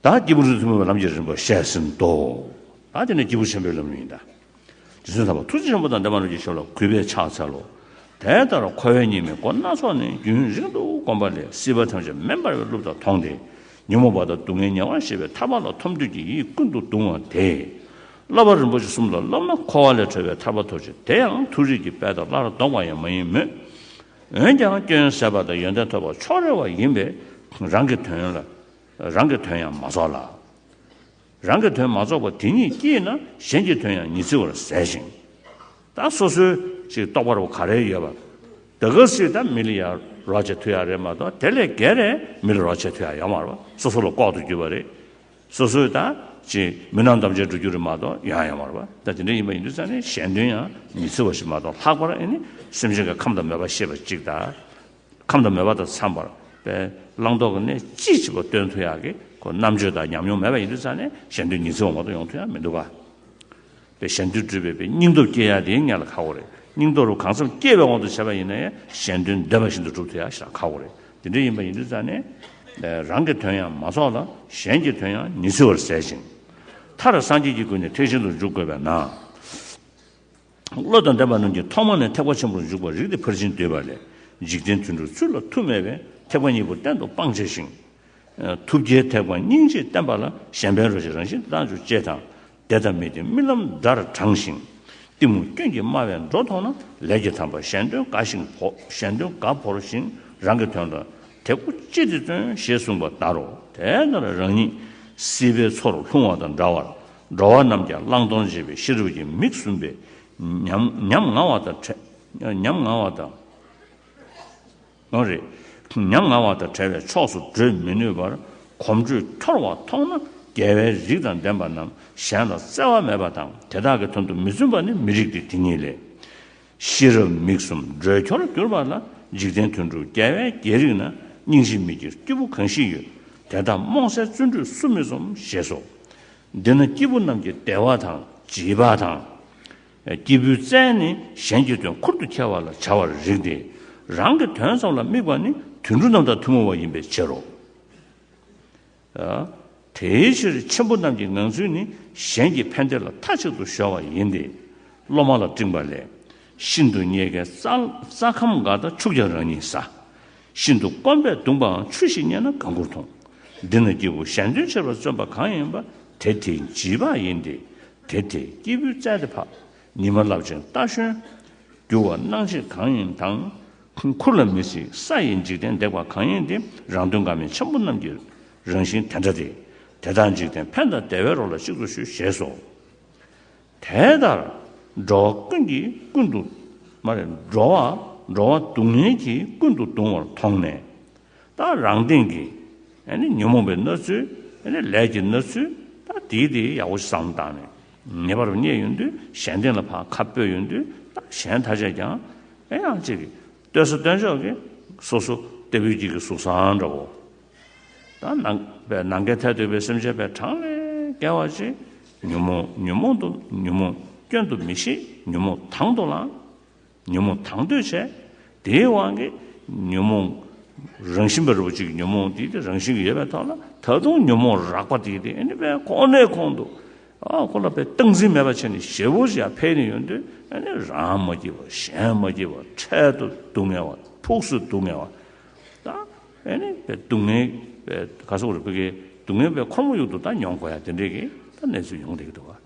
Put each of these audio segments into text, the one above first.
བདག་སྐྱེས་བུ་རིགས་མཐུན་པའི་ལམ་གྱི་རིམ་པ་བཤད་ཟིན་ཏོ། བདག་དེ་ནི་སྐྱེས་བུ་ཆེན་པོའི་ལམ་ཡིན་ཏེ། རྗེ་བཙུན་ལྷ་བ་ཐུགས་རྗེ་ཆེན་པོ་དང་ལྡན་པ་རྣམས་ཀྱིས་ཞབས་ལ་གུས་པས་ཕྱག་འཚལ་ལོ། དེ་ལྟར་འཁོར་བའི་གཉིས་མེད་སྒོ་སྣ་ཚོགས་ནི་རྒྱུན་རིང་དུ་བསྒོམས་པ་ལས་སྲིད་པ་ཐམས་ཅད་མེ་འབར་བའི་གླུ་དག་མཐོང་སྟེ། ཉོན་མོངས་པ་དང་སྡུག་བསྔལ་ཉེ་བར་ཞི་བའི་ཐར་པ་ལ་ཐོབ་འདོད་ཀྱི་ཡིད་ཀུན་ཏུ་གདུང་བ་དེས། བསླབ་པ་རིན་པོ་ཆེ་གསུམ་ལ་སློབ་ན་འཁོར་བ་ལས་གྲོལ་བའི་ཐར་པ་ཐོབ་ཅིང་དེ་ཡང་མཐོ་རིས་ཀྱི་དཔལ་དང་སླར་ལྡོག་པ་ཡང་མ་ཡིན་མོད། འོན་ཀྱང་སྐྱོན་ཟད་པ་དང་ཡོན་ཏན་ཐོབ་པར་ཕྱོགས་རེ་བ་ཡིན་པས་རང་གི་དོན་ལ་རང་གི་དོན་ཡང་མ་རྫོགས་ལ། རང་གི་དོན་མ་རྫོགས་པ་དེ་ཉིད་ཀྱིས་ན་གཞན་གྱི་དོན་ཡང་ཉི་ཚེ་བར་ཟད་ཅིང། ད་སོ་སོའི་ཞིག་རྟོགས་པར་བ་ག་རེ་ཡོད་པ། ད་ག་སྲིད་དམ་མི་ལ་ཡང་རོགས་བྱེད་མཐུ་ཡང་རེད་མ་གཏོགས་དེ་ལས་བརྒལ་ནས་མི་ལ་རོགས་བྱེད་མཐུ་ཡང་ཡོང་བར་བ་སོ་སོ་ལ་ལྐོག་ཏུ་གྱུར་པ་རེད། སོ་སོའི་ད་ཅི་མི་སྣང་དམ་བཅའ་འགྲོ་རྒྱུ་རེད་མ་གཏོགས་ཡང་ཡང་བར་བ་ད་དེ་འདྲ་ཡིན་པ་ཡིན་དུས་ཙང་ནས་གཞན་དོན་ཡང་མི་འཚོལ་བ་ཞིག་མ་གཏོགས་ལྷག་པར་ཨེ་ནི་སེམས་ཅན་གྱི་ཁམས་དང་མོས་པ་ཤེས་པ་ཅིག་དང། ཁམས་དང་མོས་པ་དང་འཚམས་པར་པའི་བླང་དོར་གྱི་གནད་ཅི་ཞིག་བ་སྟོན་ཐུ་ཡག་གི་གོ་རྣམ་དཔྱོད་དང་ཉམས་མྱོང་མེད་པ་ཡིན་དུས་ཙང་ནས་གཞན་དོན་མྱི་འཚོལ་བ་མ་གཏོགས་ཡོང་ཐུ་ཡང་མི་འདུག་ག། པའི་ཞལ་འདོན་སྒྲུབ་པའི་པའི་སྙིང་སྟོབས་སྐྱེ་ཡག་དེ་ཡང་ངེད་ལ་ཁག་པོ་རེད་སྙིང་སྟོབས་རུ་གང་འཚམས་སྐྱེ་བའི་དབང་དུ་བྱས་པ་ཡིན་ན་ཡང་ཞལ་འདོན་འདོད་པ་བཞིན་དུ་སྒྲུབ་ཐུབ་ཡག་ཞེ་ན་ཁག་པོ་རེད་དེ་འདྲ་ཡིན་པ་ཡིན་དུས་ཙང་ནས། རང་གི་དོན་ཡང་མ་ཚོགས་ལ་གཞན་གྱི་དོན་ཡང་མྱི་ཚུལ་བར་ཟད་ཅིང། མཐར་སངས་རྒྱས་ཀྱི་སྐུ་ནས་ཐེག་ཆེན་དུ་འཇུག་དགོས་པས་ན། བློ་དང་ལྡན་པ་རྣམས་ཀྱིས་ཐོག་མ་ནས་ཐེག་པ་ཆེན་པོར་འཇུག་པར་རིགས་ཏེ་ཕར་ཕྱིན་འདུལ་བ་ལས་འཇིག་རྟེན་དུ་འགྲོ་ཚུལ་ལ་ཐུགས་མེད་པས་ཐེག་པ་གཉིས་པོ་གཏན་དུ་སྤང་བྱས་ཤིང། ཐུགས་རྒྱལ་ཐེག་པ་སྙིང་རྗེས་བསྟན་པ་ལ་གཞན་ཕན་རོལ་ཅིག་རང་བཞིན་དུ་བཏང་བཅུག་ཅེས་དང། འདས་དང་མི་དེ་རྨི་ལམ་འདྲར་བགྲང་ཞིང། གཏི་མུག་སྐྱོན་གྱིས་སྨྲ་བའི་འགྲོ་མཐོང་ན་ལས་ཀྱི་དམ་པ་གཞན་དོན་དགའ་ཞིང་བོ་གཞན་དོན་དགའ་བོར་ཞིང་རང་གི་དོན་དང་དེ་སྒོ་གཅིག་ཏུ་བརྩོན་ཞེས་གསུངས་པ་ལྟར་རོ། དེ་ལྟར་རང་ཉིད་སྲིད་པའི་མཚོར་ལྷུང་བ་དང་འདྲ་བར་འགྲོ་བ་རྣམས་ཀྱང་བླང་དོར་འབྱེད་པའི་ཤེས་རབ་ཀྱི་མིག་ཟུམ་པས་ཉམ་ང་བ་དང། ཡང་རེད། མྱ་ངན་བ་དང་བྲལ་བའི་ཕྱོགས་སུ་བགྲོད་མི་ནུས་པར་གོམ་བགྲོད་འཁྱོར་བ་མཐོང་ན་རྒྱལ་བའི་རིགས་དང་ལྡན་པ་རྣམས་གཞན་ལ་བརྩེ་བ་མེད་པ་དང་དེ་དག་གི་དོན་དུ་མི་བརྩོན་པ་ནི་མི་རིགས་ཏེ་དེ་ཉིད་ལས། ཤེས་རབ་མིག་གསུམ་བགྲོད་འཁྱོར་གྱུར་པ་ལ་འཇིག་རྟེན་དོན་དྲུག་རྒྱལ་བའི་རྒྱལ་རིགས་ན་སྙིང་རྗེ་མི་དགེ་སྐྱེས་བུ་གང་ཞིག་ཡོད་དེ་དག་རྨོངས་སེལ་བརྩོན་འགྲུས་སུ་མི་རྩོམ་ཞེས་སོ། འདི་ན་སྐྱེས་བུ་རྣམས་ཀྱི་བདེ་བ་དང་བརྗིད་པ་དང། སྐྱེས་བུའི་རྩལ་ནི་གཞན་གྱི་དོན་ཁུར་དུ་འཁྱེར་བ་ལ་བྱ་བར་རིགས་ཏེ། རང་གི་དོན་ཙམ་ལ་དམིགས་པ་ནི་དུད་འགྲོ་རྣམས་དང་ཐུན་མོང་བ་ཡིན་པའི་ཕྱིར་རོ། དེའི་ཕྱིར་ཆེན་པོ་རྣམས་ཀྱི་ངང་ཚུལ་ནི་གཞན་གྱི་ཕན་བདེ་ལ་མཐའ་གཅིག་ཏུ་གཞོལ་བ་ཡིན་ཏེ། སློབ་མ་ལ་སྤྲིང་པ་ལས། ཤིན་ཏུ་རྙེད་དཀའི་རྩྭ་ཁམ་འགའ་དང་ཆུ་བརྒྱ་རང་ཉིད་ཟ། ཤིན་ཏུ་དཀོན་པས་བརྡུངས་པའང་ཆུ་ཞིག་རྙེད་ན་དགའ་མགུར་མཐོང། འདི་ནི་སྐྱེས་བུ་གཞན་དོན་ཆེ་བར་བརྩོན་པ་གང་ཡིན་པ་དེ་དེའི་བགྱིས་པ་ཡིན་ཏེ། དེ་དེས་སྐྱེས་བུའི་རྩལ་ཏེ་འཕགས། ཉི་མ་རླབས་ཆེན་རྟ་ཞོན། རྒྱུ་བ་སྣང་བྱེད་གང་ཡིན་དང། འཁོར་ལ་མི་ཚིག་ས་ཡི་འཇིག་རྟེན་འདེགས་པ་གང་ཡིན་ཏེ་རང་དོན་འགག་མེད་ཆེན་པོ་རྣམས་ཀྱི་རང་བཞིན་དེ་འདྲ་སྟེ། དེ་དག་འཇིག་རྟེན་ཕན་དང་བདེ་བའི་རོ་ལ་གཅིག་ཏུ་ཞུ་ཞེས་སོ། དེ་ལྟར་འགྲོ་བ་ཀུན་གྱིས་ཀུན་ཏུ། མ་རེད། འགྲོ་བ། འགྲོ་བ་སྡུག་བསྔལ་གྱིས་ཀུན་ཏུ་གདུང་བར་མཐོང་ནས། དང་རང་སྟེང་གི་ཉོན་མོངས་པའི་ན་ཚོད་ལས་ཀྱི་ན་ཚོད་དང་དེའི་དེ་ཡག་པོ་བཟང་བཏང་ནས་ངེས་པར་བརྙེད་ཡོང་དུས་གཞན་སྟེང་ལ་ཁ་སྤོས་ཡོང་དུས་དང་གཞན་ཐ་ཆད་ཀྱང་ཡང་ཅིག་གིས་བསྟོད་ས་སྟོན་ཆོག་གི་སོ་སོ་སྟེ་བུ་སྐྱིད་ཀྱི་གཟུགས་བཟང་འདྲ་བོ་དང་ནང་པའི་ནང་འགལ་ཐལ་འདོད་པའི་སེམས་བྱེད་པའི་གྲངས་ལས་བརྒལ་བ་ཅི། ཉོན་མོངས་ཉོན་མོངས་དུ་ཉོན་མོངས་སྐྱོན་དུ་མི་ཤེས་ཉོན་མོངས་དང་དུ་བླང། ཉོན་མོངས་དང་འདོད་ཆགས་དེའི་དབང་གིས་ཉོན་མོངས་རང་བཞིན་པ་རིག་པ་གཅིག་གི་ཉོན་མོངས་དེ་དེ་རང་བཞིན་གྱིས་ཡོད་པའི་ཐོག་ལ་ད་དུང་ཉོན་མོངས་རགས་པ་དེ་དེ་ནི་པའི་ཁོང་ནའི་ཁོང་དུ་ཁོ་ལ་པའི་སྟངས་འཛིན་མེད་པ་ཕྱིར་ནི་ཞེ་བོ་ཞིག་ཕལ་ནི་ཡོད་དུས་རང་མ་སྐྱེས་པར་གཞན་མ་སྐྱེས་པར་འཕྲལ་དུ་སྡུག་བསྔལ་བ་ཕུགས་སུ་སྡུག་བསྔལ་བ་དང་ནི་པའི་སྡུག་བསྔལ་བའི་ག་སོགས་རིག་པ་ཀའི་སྡུག་བསྔལ་བའི་ཁོར་མོ་དབྱུག་ཏུ་ད་མྱོང་དགོས་ཡ་དེ་འདྲའི་གི་ད་གནས་ཚུལ་ཡོང་སྡད་ཀྱི་འདུག་བ།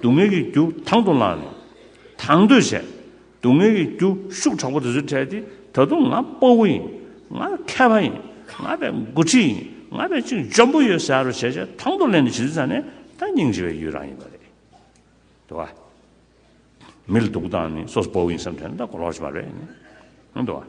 སྡུག་བསྔལ་གྱི་རྒྱུ་དང་དུ་བླངས་ནས་དང་དོད་བྱས། སྡུག་བསྔལ་གྱི་རྒྱུ་ཤུགས་དྲག་པོ་དེ་ཚོས་ཕྲལ་ཏེ་ད་དུང་ང་སྤོ་བོ་ཡིན། ང་མཁས་པ་ཡིན། ང་བས་མགོ་ཁྲིད་ཡིན། ང་བས་ཅུང་འཇོན་པོ་ཡོད་ཟེར་བ་བྱས་བྱས་དང་དུ་ལེན་ནས་བྱིས་དུས་ཚང་ནས་ད་སྙིང་རྗེ་བའི་ཡུལ་རང་ཡིན་པ་རེད། འདུག་བ། མི་ལ་སྡུག་བཏང་ནས་སོ་སོ་སྤོ་བོ་ཡིན་བསམ་ཐོན་ན་ད་གོ་ལོག་བྱེད་པ་རེད། འདུག་བ།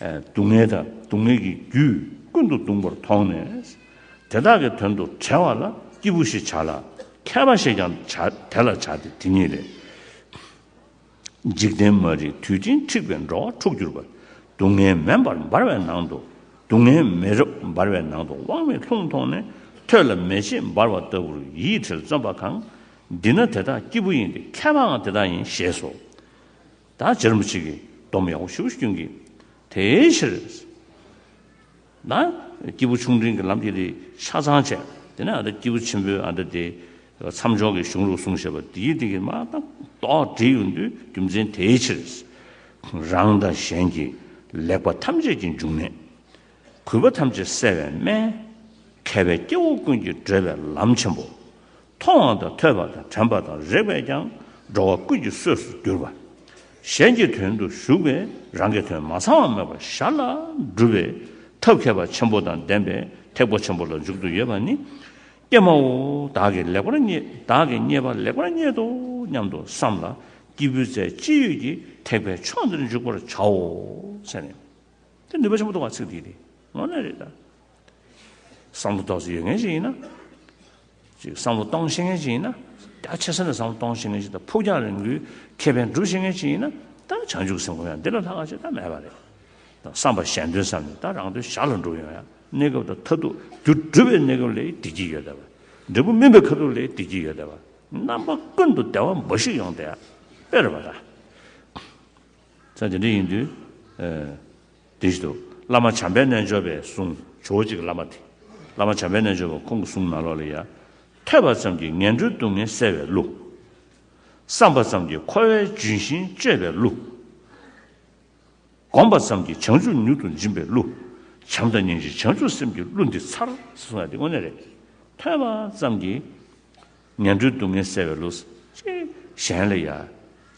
སྡུག་བསྔལ་དང་སྡུག་བསྔལ་གྱི་རྒྱུས་ཀུན་ཏུ་གདུངས་པར་མཐོང་ནས། དེ་དག་གི་དོན་དུ་བྲལ་བ་ལ་སྐྱེས་བུ་ཞེས་བྱ་ལ། མཁས་པ་ཞེས་ཀྱང་དེ་ལ་བྱ་སྟེ་དེ་ཉིད་ལས། འཇིག་རྟེན་མ་རིག་དུས་ཅན་འཁྲིག་པའི་འགྲོ་བ་འཁྲུགས་གྱུར་པ། སྡུག་བསྔལ་མེ་འབར་འབར་བའི་ནང་དུ་སྡུག་བསྔལ་མེ་རབ་འབར་བའི་ནང་དུ་དབང་མེད་ལྷུང་མཐོང་ནས་ཐོད་ལ་མེ་ལྕེ་འབར་བ་ལྟ་བུར་ཡིད་བྲལ་བརྩོན་པ་གང། འདི་ན་དེ་དག་སྐྱེས་བུ་ཡིན་ཏེ་མཁས་པའང་དེ་དག་ཡིན་ཞེས་སོ། བདག་ཅག་རིན་པོ་ཆེ་གི་སྡོམ་ཡང་བོ་ཞུ་བ་སྐྱོན་གྱིས། དེའི་ཕྱིར། ན། སྐྱེས་བུ་ཆུང་འབྲིང་གི་ལམ་གྱི་རིགས་ཆ་ཚང་བྱས། དེ་ནས་ཨ་ཏི་སྐྱེས་བུ་ཆེན་པོས་ཨ་ཏི་དེའི། མཚམས་འཇོག་གི་གཞུང་ལུགས་གསུངས་ཞེས་པ་འདིའི་སྟེང་གི་མ་དང་དོག་འདྲི་ཡོང་དུས་རྒྱུ་མཚན་དེའི་ཕྱིར། རང་དང་གཞན་གྱི་ལེགས་པ་ཐམས་ཅད་ཀྱི་འབྱུང་གནས། གུས་པ་ཐམས་ཅད་བསལ་བའི་སྨན། མཁས་པའི་སྐྱེ་བོ་ཀུན་གྱི་བགྲོད་པའི་ལམ་ཆེན་པོ། མཐོང་བ་དང་ཐོས་པ་དང་དྲན་པ་དང་རེག་པས་ཀྱང་འགྲོ་བ་ཀུན་གྱི་གསོས་སུ་གྱུར་པ། གཞན་གྱི་དོན་དུ་ཞུགས་པས་རང་གི་དོན་མ་ཚང་བ་མེད་པར་ཤར་ལ་འགྲུབ་པའི་ཐབས་མཁས་པ་ཆེན་པོ་དང་ལྡན་པའི་ཐེག་པ་ཆེན་པོ་ལ་འཇུག་ཏུ་ཡོད་པ་ནི། ཀྱེ་མའོ་བདག་གིས་ལེགས་པར་བདག་གིས་རྙེད་པ་ལེགས་པར་རྙེད་དོ་སྙམ་དུ་བསམས་ལ་སྐྱེས་བུའི་རྩལ་ཅི་ཡོད་ཀྱིས་ཐེག་པའི་ཕྱོགས་འདིར་འཇུག་པར་བྱའོ། ཚེ་ནི། དེ་ནུས་པ་ཆེན་པོ་ཐོབ་པ་ཚིག་འདིས་ནི་ངོ་ན་རེ་ད། བསམ་བློ་གཏོང་ས་ཡོད་མཁན་ཞིག་ཡིན་ན། ཅིག་བསམ་བློ་གཏོང་ཤེས་མཁན་ཞིག་ཡིན་ན། རྒྱ་ཆེ་ས་ནས་བསམ་བློ་གཏོང་ཤེས་མཁན་ཞིག་དང་ཕུགས་རྒྱང་རིང་པོའི་ཁེ་ཕན་སྒྲུབ་ཤེས་མཁན་ཞིག་ཡིན་ན། ད་བྱང་ཆུབ་སེམས་ཁོང་ཡང་འདི་ལ་ལྷག་ཆེ་ད་མེད་པ་རེད། ད་བསམ་པ་གཞན་དོན་བསམ་ནས་ད་རང་དོན་ཞར་ལ་འགྲོ་ཡོང་ཡ། གནས་སྐབས་དང་མཐའ་ཐུག་རྒྱུ་སྒྲུབ་པའི་གནས་སྐབས་ལས་བདེ་སྐྱིད་ཡོད་བསྡད་པ། འབྲས་བུ་སྨིན་པའི་ཁ་ཐུག་ལས་བདེ་སྐྱིད་ཡོད་བསྡད་པ། རྣམ་པ་ཀུན་ཏུ་བདེ་བ་འབའ་ཞིག་ཡོང་བསྡད་ཡ། དཔེར་བ་ད། ཚེ་འདི་འདྲ་ཡིན་དུས། དེ་བཞིན་དུ། བླ་མ་བྱམས་པའི་རྣལ་འབྱོར་པའི་གསུང། ཇོ་བོ་གཅིག་གི་བླ་མ་དེ། བླ་མ་བྱམས་པའི་རྣལ་འབྱོར་པ་ཁོང་གི་གསུང་ནང་ལོགས་ལ་ཡ། ཐོས་པ་ཙམ་གྱིས་ངན་འགྲོའི་སྡུག་བསྔལ་སེལ་བའི་གླུ། བསམས་པ་ཙམ་གྱིས་འཁོར་བའི་ལྗོན་ཤིང་གཅོད་པའི་གླུ། བསྒོམས་པ་ཙམ་གྱིས་བྱང་ཆུབ་མྱུར་དུ་འབྱིན་པའི་གླུ། བྱམས་དང་སྙིང་རྗེ་བྱང་ཆུབ་སེམས་ཀྱི་གླུ་འདི་མཚར། ཐོས་པ་ཙམ་གྱིས། ངན་འགྲོའི་སྡུག་བསྔལ་བསལ་བའི་ལུས། ཅིག། གཞན་ལ་ཡང།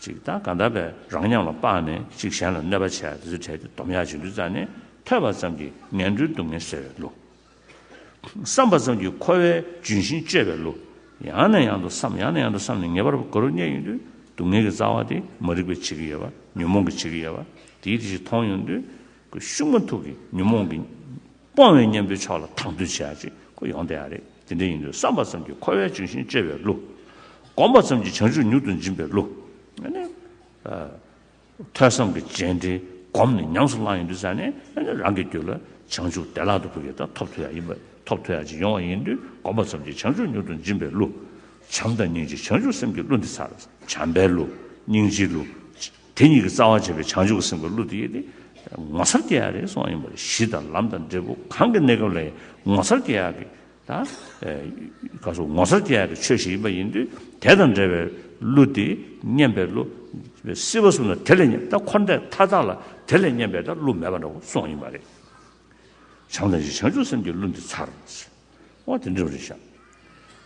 ཅིག། དང་གང་དག་པས་རང་ཉམས་ལ་དཔགས་ནས་ཅིག་གཞན་ལ་གནོད་པ་བྱས་དེ་ཚོད་བྲལ་ཏེ་སྡོམ་ཡང་བྱིན་གྱིས་བརྩམས་ནས་ཐོས་པ་ཙམ་གྱིས་ངན་འགྲོའི་སྡུག་བསྔལ་བསལ་བའི་ལུས། བསམས་པ་ཙམ་གྱིས་འཁོར་བའི་ལྗོན་ཤིང་གཅོད་པའི་ལུས། ཡང་ནས་ཡང་དུ་བསམ་ཡང་ནས་ཡང་དུ་བསམས་ནས་ངེས་པར་འཁོར་བའི་གནས་ཡིན་དུས་སྡུག་བསྔལ་གྱི་རྩ་བ་དེ་མ་རིག་པའི་བྱེད་ཀྱི་ཡོད་པ་ཉོན་མོངས་ཀྱི་བྱེད་ཀྱི་ཡོད་པ་དེའི་དེ་བཞིན་མཐོང་ཡོང་དུས། ཤུགས་མ་ཐུག་གི་ཉོན་མོངས་ཀྱི། སྤོང་བའི་གཉེན་པོའི་ཕྱོགས་ལ་དང་དོད་བྱེད་ཡ་ཅིག་ཁོ་ཡོང་དེ་ཡ་རེད་དེ་འདྲ་ཡིན་དུས་བསམ་པ་ཙམ་གྱིས་འཁོར་བའི་འབྱུང་ཞིང་བཅོལ་བའི་གླུ། བསྒོམ་པ་ཙམ་གྱིས་བྱང་ཆུབ་མྱུར་དུ་འབྱིན་པའི་གླུ། ཐོས་བསམ་གྱི་རྗེས་འབྲེལ་བསྒོམས་ནས་ཉམས་སུ་བླངས་ཡོང་དུས་ཙམ་ནས་རང་གི་རྒྱུད་ལ་བྱང་ཆུབ་བདེ་བླག་ཏུ་ཕུལ་བའི་དང་ཐོབ་ཐོབ་ཡ་ཡིན་པ་ཐོབ་ཐོབ་ཡ་ཅིག་ཡོང་བ་ཡིན་དུས་བསྒོམ་པ་ཙམ་གྱིས་བྱང་ཆུབ་མྱུར་དུ་འབྱིན་པའི་གླུ། བྱམས་དང་སྙིང་རྗེ་བྱང་ཆུབ་སེམས་ཀྱི་གླུ་འདི་ཚར་བྱམས་པའི་གླུ། སྙིང་རྗེའི་གླུ། དེ་གཉིས་ཀྱི་རྩ་བ་བྱས་པའི་བྱང་ཆུབ་ཀྱི་སེམས་ཀྱི་གླུ་དེ་ཡིས་ཏེ། ངོ་མཚར་སྐྱེ་ཡག་རེག་སོགས་ཡིན་པར་གཞི་དང་ལམ་དང་འབྲས་བུ་གང་གི་གནས་སྐབས་ལ་ཡང་ངོ་མཚར་སྐྱེ་ཡག་གི། དང། ངོ་མཚར་སྐྱེ་ཡག་གི་ཆོས་ཤིག་ཡིན་པ་ཡིན་དུས་དེ་དང་འབྲེལ་བའི་གླུ་དེ་སྙན་པའི་གླུ། སྲིད་པ་གསུམ་ལ་དེ་ལས་སྙན་པའི་འཁོར་འདས་མཐའ་དག་ལ་དེ་ལས་སྙན་པའི་གླུ་མེད་པ་འདྲ་བོ་སོགས་ཡིན་པ་རེད། བྱང་དང་བཞི་བྱང་ཆུབ་སེམས་ཀྱི་གླུ་འདི་མཚར། འོ་དེ་འདྲ་བ་རེད་བཞག།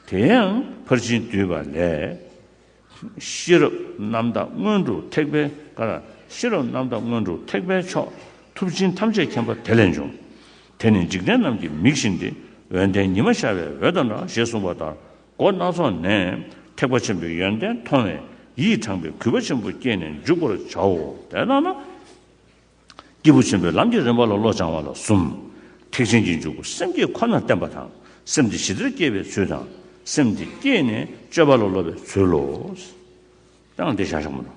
དེ་ཡང་ཕར་ཕྱིན་བསྡུས་པ་ལས། ཤེས་རབ་རྣམ་དག་མངོན་དུ་ཐེག་པའི་གར། ཤེས་རབ་རྣམ་དག་མངོན་དུ་ཐེག་པའི་མཆོག། ཐུབ་ཆེན་ཐམས་ཅད་མཁྱེན་པ་དེ་ལས་འབྱུང། དེ་ནི་འཇིག་རྟེན་རྣམས་ཀྱི་མིག་བཞིན་ཏེ། འོད་ལྡན་ཉི་མ་ཤར་བའི་འོད་དང་འདྲ་ཞེས་གསུངས་པ་ལྟར་སྒོ་སྣ་ཚོགས་ནས་ཐེག་པ་ཆེན་པོའི་ཡོན་ཏན་མཐོང་བས་ཡིད་དྲངས་པའི་གུས་པ་ཆེན་པོ་བསྐྱེད་ནས་འཇུག་པར་བྱའོ། དེ་ལྟར་ན། སྐྱེས་བུ་ཆེན་པོའི་ལམ་གྱི་རིམ་པ་ལ་བློ་སྦྱང་བ་ལ་གསུམ། ཐེག་ཆེན་གྱི་འཇུག་སྒོ་སེམས་བསྐྱེད་ཁོ་ནར་བསྟན་པ་དང་སེམས་དེ་ཞི་བདེར་སྐྱེས་པའི་ཚུལ་དང། སེམས་དེ་སྐྱེས་ནས་སྤྱོད་པ་ལ་སློབ་པའི་ཚུལ་ལོ། ཀྱང་བདེ་བྱ་བཞག་མ་ནོར།